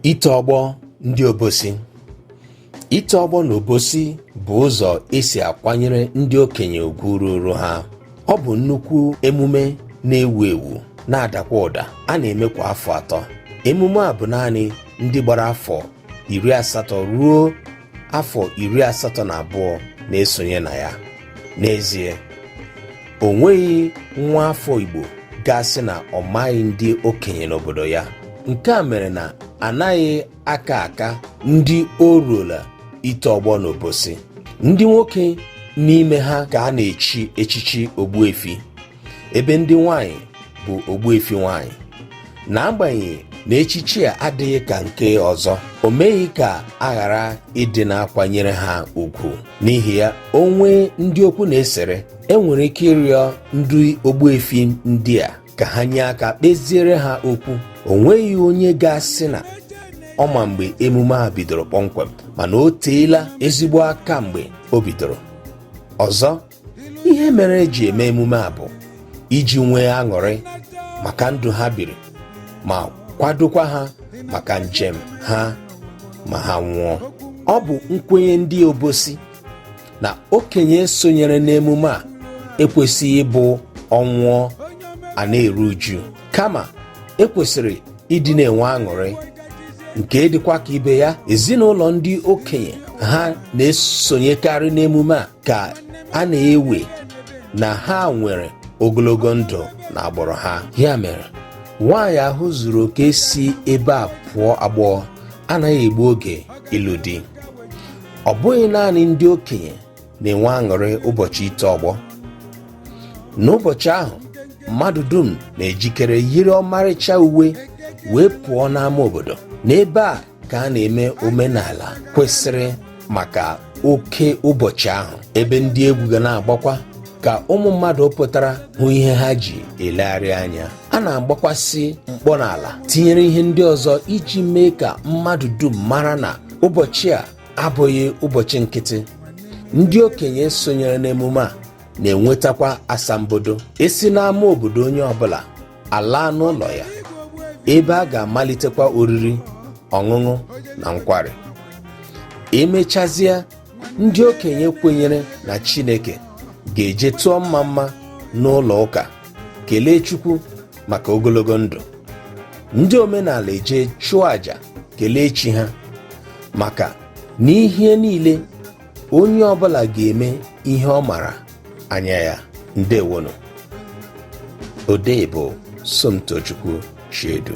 ito ọgbọ ndị obosi ito ọgbọ n'obosi bụ ụzọ e si akwanyere ndị okenye ugwu ruuru ha ọ bụ nnukwu emume na-ewu ewu na-adakwa ụda a na-eme kwa afọ atọ emume a bụ naanị ndị gbara afọ iri asatọ ruo afọ iri asatọ na abụọ na-esonye na ya n'ezie o nweghị nwa afọ Igbo ga-asị na ọ maghị ndị okenye n'obodo ya nke a mere na anaghị aka aka ndị o ruola ito ọgbọ n'obosi ndị nwoke n'ime ha ka a na-echi echichi ogbuefi ebe ndị nwanyị bụ ogbuefi nwanyị n'agbanyeghị na echichi a adịghị ka nke ọzọ o meghị ka a ghara ịdị na-akwanyere ha ugwu n'ihi ya o nwee ndị okwu na-esere e nwere ike ịrịọ ndị ogbuefi ndị a ka ha nye aka kpeziere ha okwu o nweghị onye ga-asị na ọ ma mgbe emume a bidoro kpọmkwem mana o teela ezigbo aka mgbe o bidoro ọzọ ihe mere e ji eme emume a bụ iji nwee aṅụrị maka ndụ ha biri ma kwadokwa ha maka njem ha ma ha nwụọ ọ bụ nkwenye ndị obosi na okenye sonyere n'emume a ekwesịghị ịbụ ọ nwụọ a na-eru uju kama e kwesịrị ịdị na-enwe aṅụrị nke dịkwa ka ibe ya ezinụlọ ndị okenye ha na-esonyekarị n'emume a ka a na-ewe na ha nwere ogologo ndụ n'agbụrụ ha ya mere nwaanyị ahụ zuru oke si ebe a pụọ agbọghọ anaghị egbu oge ịlụ di ọ bụghị naanị ndị okenye na-enwe aṅụrị ụbọchị ito ọgbọ n'ụbọchị ahụ mmadụ dum na-ejikere yiri ọmarịcha uwe wee pụọ n'ama obodo n'ebe a ka a na-eme omenala kwesịrị maka oke ụbọchị ahụ ebe ndị egwu ga na-agbakwa ka ụmụ mmadụ pụtara hụ ihe ha ji elegharị anya a na-agbakwasị mkpọ n'ala tinyere ihe ndị ọzọ iji mee ka mmadụ dum mara na ụbọchị a abụghị ụbọchị nkịtị ndị okenye sonyere n'emume a na-enwetakwa asambodo e si n'ama obodo onye ọbụla alaa n'ụlọ ya ebe a ga-amalitekwa oriri ọṅụṅụ na nkwari e mechazie ndị okenye kwenyere na chineke ga-eje tụọ mma mma n'ụlọ ụka kelee chukwu maka ogologo ndụ ndị omenala eje chụọ àjà kelee chi ha maka n'ihe niile onye ọbụla ga-eme ihe ọ mara anya ya ndewonu odee bụ Somtochukwu Chiedu